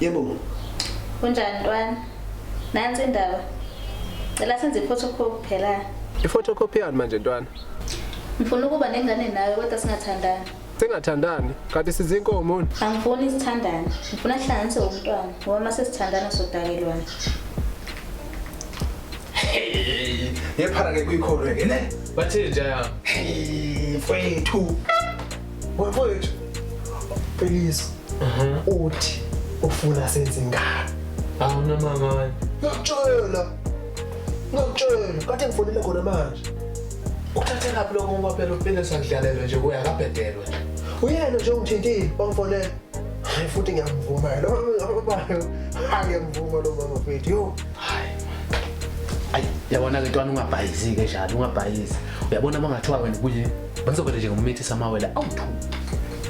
Yebo. Kunjani ntwana? Nansi indaba. Cela senze iphotocopy phela. Iphotocopy yani manje ntwana? Ngifuna ukuba nengane nawe kodwa singathandani. Singathandani? Kanti sizinkomo. Angifuni sithandane. Ngifuna sihlanganise umntwana ngoba mase sithandana sodakelwana. Ngephara ke kuyikhorwe ke ne. Bathini njaya? Hey, mfethu. Mfowethu Peliso uthi ufuna senze ngani? Awuna mama wena. Ngiyakutshela. Ngiyakutshela kade ngifonele khona manje. Uthathe laphi lokho ngoba phela uphile sakudlalelwe nje kuya kabhedelwe. Uyena nje ongithintile wangifonela. Hayi futhi ngiyamvuma lo mama. Hayi ngiyamvuma lo mama mfethu. Yo. Hayi. Ayi yabona ke ntwana ungabhayizi ke njalo ungabhayizi. Uyabona mangathiwa wena kuye Ngizovele nje ngimithisa amawele awu-2.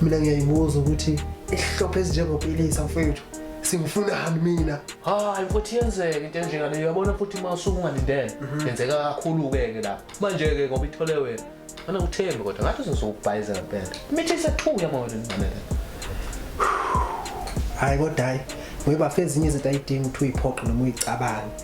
Mina ngiyayibuza ukuthi isihlophe ezinjengopilisa mfethu singifunani mina hayi futhi yenzeke into enjengale uyabona futhi uma usungalindele mhm. yenzeka kakhulu-ke-ke lapho manje-ke ngoba ithole wena ana uthembe kodwa ngathi uzozokubhayiza ngempela imithi isethuya uma wena ngifanele hhayi kodwa hhayi ngoba fe ezinye izinto ayidingi ukuthi uyiphoqe noma uyicabange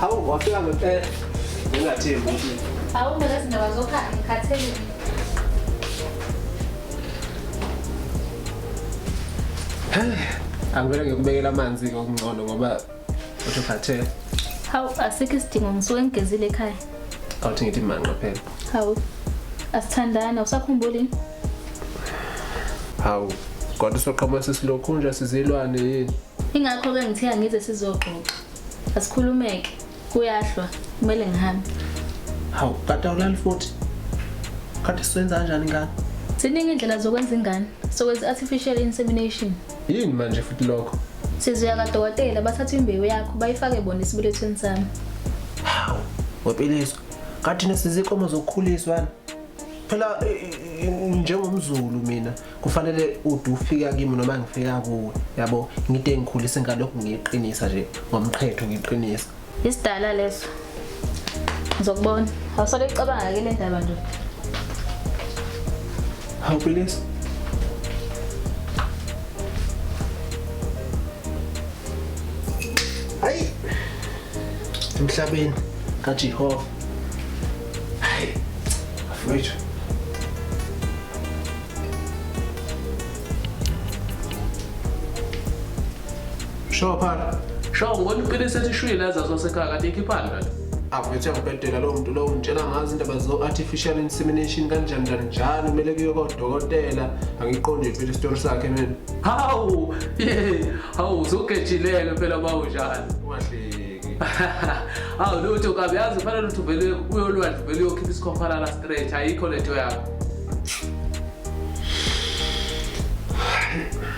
Hawu wafika ngempela. Ngingathembi ukuthi. Hawu mina sindaba zokha ngikhathele. Angivele ngikubekela amanzi ngokungcono ngoba uthi ukhathele. Hawu asikho isidingo ngisuke ngigezile ekhaya. Awuthi ngithi manqa phela. Hawu asithandana usakhumbuli? Hawu kodwa soqhoma sesilokhu nje sizilwane yini? Ingakho-ke ngithe angize sizoxoxa. Asikhulumeke. Kuyahlwa. Kumele ngihambe. Hawu, kade awulali futhi. Kade siwenza kanjani ingane? Ziningi indlela zokwenza ingane. Sokwenza artificial insemination. Yini manje futhi lokho? Sizoya kadokotela bathatha imbewu yakho bayifake bona esibelethweni sami. Hawu, wepiliswa. Kathina sizikomo zokukhuliswa. Phela njengomzulu mina kufanele ude ufika kimi noma ngifika kuwe yabo ngide ngikhulise ngalokhu ngiyiqinisa nje ngomqhetho ngiqinisa isidala leso ngizokubona awusale ucabanga ke le ndaba nje hawu please emhlabeni kaJehova hayi afethu Sho phana Sho ngibona iqiniso ethi shwile azazwa sekhaya kanti ikhiphani kanti avuthe ngibhedela lowo muntu lowo ngitshela ngazi indaba zo-artificial insemination kanjani njani njalo kumele kuye kodokotela angiqondi phela isitori sakhe mina hawu ye hawu zugejileke phela bawunjani awu lutho kabi yazi ufanele ukuthi uvele uyolwandle uvele uyokhipha isikhokhalala straight ayikho lento yakho